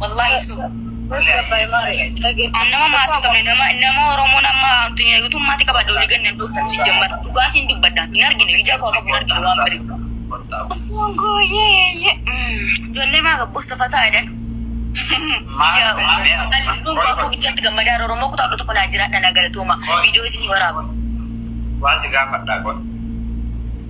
Wallaahi so. An nama maatii qabne nama nama Oromoon amma addunyaa guutuu maatii qabadha olii ganna hin dhuftan si jammar dhugaa siin dubbadha hin argine ija koo qabu hin argine waan bari. Osoo gooyee ijoollee maa gabbuus tafa taa'edhan. Lubbuun koo afur bichaatti gammadaa Oromoo kutaa kudha tokko naa jiraadha naa galatooma viidiyoo isinii waraaba. Waan si gaafadhaa godha.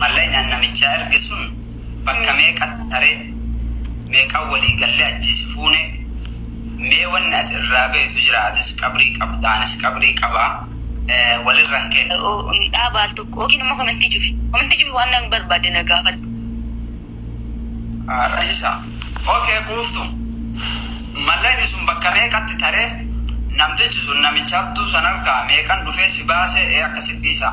Mallaqni an namichaa erge sun bakka meeqatti taree? Meeqan walii gallee achii si fuunee? Mee wanni ati irraa beeytu jiraa? Atis qabrii qabdaa anis qabrii qabaa wal irra hin keennu. Dhaaba al tokko yookiin ammoo komentii cufi. Komentii cufi waan na barbaadde na gaafadhu. Raisa. Ok quuftu. Mallaqni sun bakka meeqatti taree? Namtichi sun namicha abduu san argaa meeqan dhufee si baasee ee akkasit dhiisaa.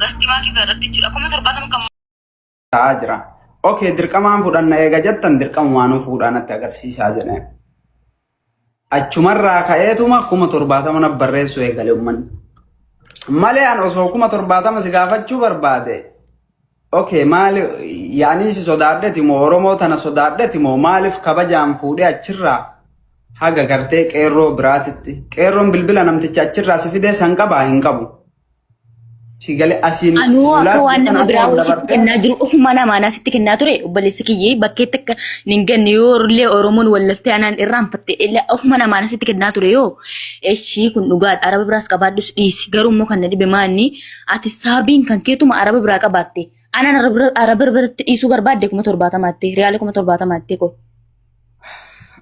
gastimaa kika irratti jechuudha kuma torbaatama kan ta'aa jira. Ok dirqamaan fudhanna eega jettan dirqamumaanuu fuudhaa natti agarsiisaa jedheen. Achumarraa ka'eetuma kuma torbaatama naf barreessuu eegale ummanni. Malee an osoo kuma torbaatama si gaafachuu barbaade ok maali yaanii si sodaadheti moo Oromoo tana sodaadheti moo maaliif kabajaan fuudhee achirraa haga gartee qeerroo biraatitti qeerroon bilbila namticha achirraa si fidee san qabaa hin qabu. Si gale asiin Anuu akka fuulaa waan namni biraa wayii sitti kennaa jiru ofuma namaan asitti kennaa ture obboleessi kiyyee bakkeetti akka hin ganne yoo illee Oromoon wallaftee anaan irraanfatte illee ofuma namaan asitti kennaa ture yoo eshii kun dhugaadha araba biraas qabaadhus dhiisi garuu immoo kan na dhibe maanni ati saabiin kan keetuma araba biraa qabaatte anaan araba bira- araba biratti dhiisuu barbaadde kuma torbaatamaatti riyaala kuma torbaatamaatti koo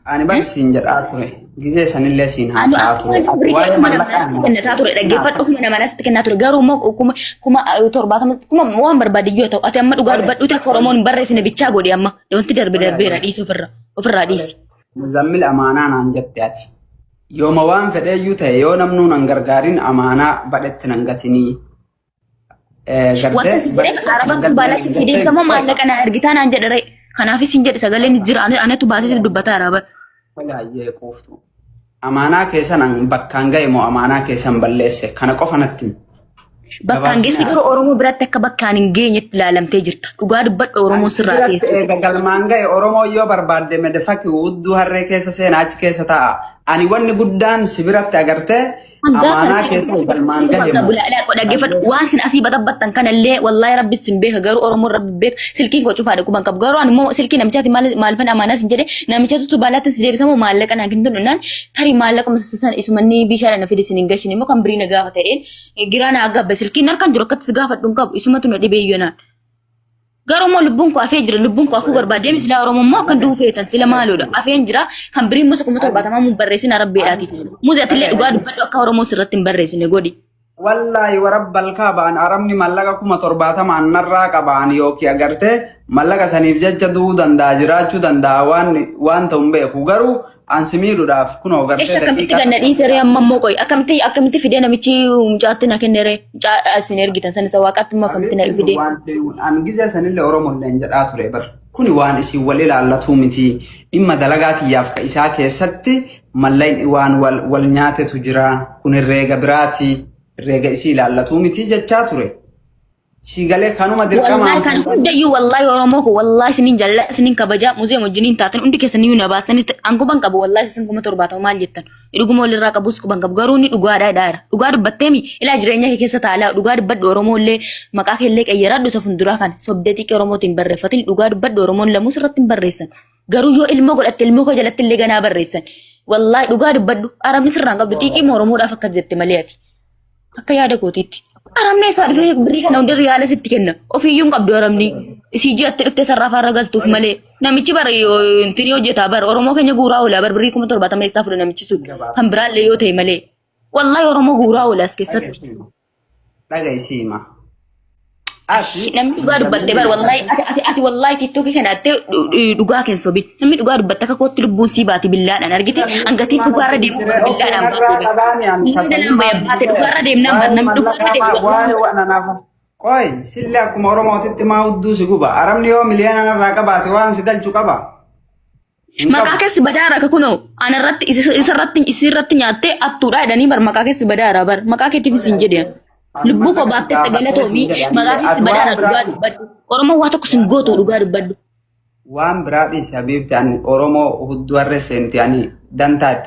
Ani bar siin jedhaa ture. Gizee sanillee siin Ani haasa'aa akkuma ture. durii Waa'ee kuma nama mallaqaa natti kennataa ture dhaggeeffadhu kuma nama natti kennaa ture garuu immoo kuma kuma eh, torbaatama kuma waan barbaade yoo ta'u ati amma dhugaa dubbadhuuti akka oromoon hin barreessine bichaa godhi amma wanti darbe darbeera dhiisi ofirra ofirraa dhiisi. Muzammil amaanaa naan jette ati. Yooma waan fedheeyyuu ta'e yoo namnuu nan gargaarin amaanaa badhetti nan gatinii. Wanta si jedhe araba kun baalatti si deekamoo maallaqa na argitaa naan jedhe ree. Kanaafis hin jedhe sagaleen jira ani- anatu baasee dubbata araba. Walaayyee quuftu. Amaanaa keessan an bakkaan ga'e moo amaanaa keessan balleesse kana qofa natti himi. Bakkaan geessi garuu Oromoo biratti akka bakkaan hin geenyetti ilaalamtee jirta. Dhugaa dubbadha Oromoo sirraa Biratti teessu. eega galmaan ga'e Oromoo yoo barbaadde medefaki udduu harree keessa seenaa achi keessa taa'a. Ani wanni guddaan si biratti agartee amaanaa keessan galmaan gahe moo dhaggeeffadhu waan sin asii baxabbattan kanallee wallaahi rabbi sin beeka garuu oromoon rabbi beeka silkiin koo cufaadha quban qabu garuu ani immoo silkii namichaati maalfan amaanaa sin jedhe namichatu tubaalaatti si deebisamu maallaqa naa kennu naan tari maallaqa musasisan isumanni bishaadha na fide sin hin gashin immoo kan birii na gaafa ta'een giraa na agabbe silkiin harkaan jiru akkatti si gaafadhu hin qabu isumatu na dhibee yoo naan Garuu immoo lubbuun koo afee jira. Lubbuun koo afuu barbaadee miti silaa Oromoo immoo akkan du'uu feetan sila maaloodha. Afeen jira. Kan birii immoo kuma torbaatamaa mun barreessin arabbeedhaati. Muzi atillee dhugaa dubbadhu akka Oromoo sirratti hin barreessine godhi. Wallaahi warabbal kaabaan arabni mallaqa kuma torbaatamaan narraa qabaan yookiin agartee mallaqa saniif jecha du'uu danda'a jiraachuu danda'a waan waan ta'u hin beeku garuu An si miidhuudhaaf kunoo Eshi gartee akkamitti daqiiqaa ganna dhiise ree amma immoo qoy akkamitti akkamitti fidee namichi mucaatti na kenne ree mucaa isin ergitan san isa waaqaatti immoo akkamitti na fidee. waan ta'eef an gizee sanillee Oromoo illee hin jedhaa ture bar. Kuni waan isin wal ilaallatuu miti. Dhimma dalagaa kiyyaaf ka isaa keessatti mallayni waan wal, wal nyaatetu jira. Kun herreega biraati. Herreega isii ilaallatuu miti jechaa ture. Sii galee kanuma dirqamaan Wallahi kan fuudhan. hundayyuu wallahi Oromoo koo wallahi isinin jaalladha isinin kabajaa muzeem wajjiniin taatan hundi keessan iyyuu na baasanii an guban qabu wallahi isin kuma torbaatama maal jettan dhuguma walirraa qabus guban qabu garuu inni dhugaadhaa dhaara dhugaa dubbatteemi ilaa jireenya kee keessa taalaa dhugaa dubbadhu Oromoo illee maqaa kee illee qayyaraadhu isa funduraa kana sobdee xiqqee Oromootiin barreeffatin dhugaa dubbadhu Oromoon lamuus irratti hin barreessan garuu yoo ilmoo godhatte ilmoo koo jalatti illee ganaa barreessan wallahi dhugaa dubbadhu arabni sirraan qabdu xiqqii Oromoodhaaf akkas jette malee ati Akka yaada kootiitti. Aramni isaa dhufee birrii kana hundi riyaala sitti kenna. Ofiiyyuu hin qabdu aramni. Isii ji'atti dhuftee sarraa faarra galtuuf malee. Namichi bara yoo intin yoo hojjetaa bara Oromoo keenya guuraa oolaa bara birrii kuma torbaatama eessaa fuudha namichi sun. Kan biraallee yoo ta'e malee. Wallahi Oromoo guuraa oolaa as keessatti. Dhaga isii hima. Ati Namni dhugaa dubbatte bar wallahi ati ati ati wallahi tiktokii kana atte dhugaa keen sobi. Namni dhugaa dubbatte akka kootti lubbuun sii baati billaadhaan argite hangatiin dhugaarra deemu billaadhaan baate. Billaadhaan baya baate dhugaarra deemnaan baate namni dhugaarra deemu wallahi. Qoy sillee akkuma Oromootitti maa hudduu si guba. Arabni yoo miliyoona narraa qabaate waan si galchu qaba. Hin Maqaa qabu. keessi badaa irraa kunoo ana irratti isarratti isirratti nyaattee attuudhaa jedhanii bar maqaa keessi badaa irraa bar maqaa keetiifis hin jedhe. Lubbuu koo baaftee itti galatoomii maqaa keessi badaa irraa dhugaa dubbadhu. Oromoo waa tokko sin gootu dhugaa dubbadhu. Waan biraa dhiisi habiibti ani Oromoo hudduu harree seenti ani dantaa itti